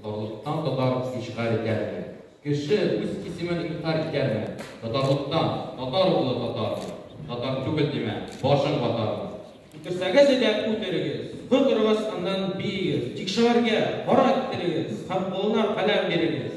Татарлыктан татар ишгаль итәрме? Кеше үз исемен инкарь итәрме? Татарлыктан татар углы татармы? Татар түгел димә, башың ватармы? Үтерсәгез әйдә үтерегез, котырыгыз аннан биегез, тик шагыйрьгә кара китерегез һәм кулына каләм бирегез.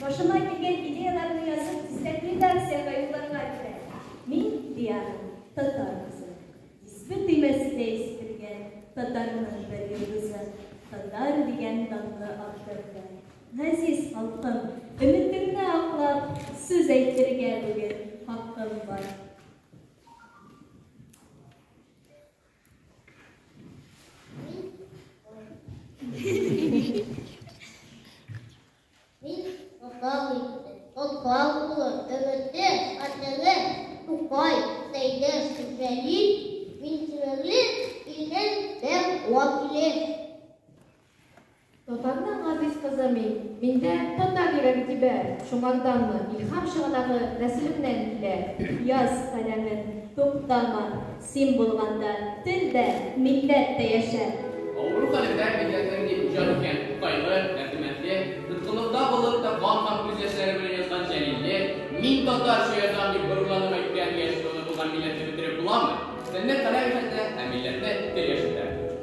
Башыма килгән идеяләрне язып, дистәк редакциягә юлларга кирәк. Мин, Диана, татар кызы. Диспе төймәсенә исетелгән татарның бер йолдызы, татар дигән данлы авторны. Газиз халкым, өметеңне аклап, сүз әйтергә бүген хакым бар. Мин Уфал егете, Уфал улы, өметле, хатерле, Тукай, Сәйдәш, Җәлил, мин симерле, илнең бер вәкиле. Татарның газиз кызы мин, миндә татар йөрәк тибә, шуңарданмы илһам чыганагы нәселемнән килә. Яз, каләмем, туктама, Син булганда тел дә, милләт тә яшәр! Авыру хәлендә милләтнең дип иҗат иткән Тукайлы, Әбдемәтле, тоткынлыкта булып та кан һәм күз яшьләре белән язган Җәлилле, Мин татарча язам дип горурланып әйткән яшь руны булган милләтне бетереп буламы? Телне каләм яшәтә, ә милләтне тел яшәтә.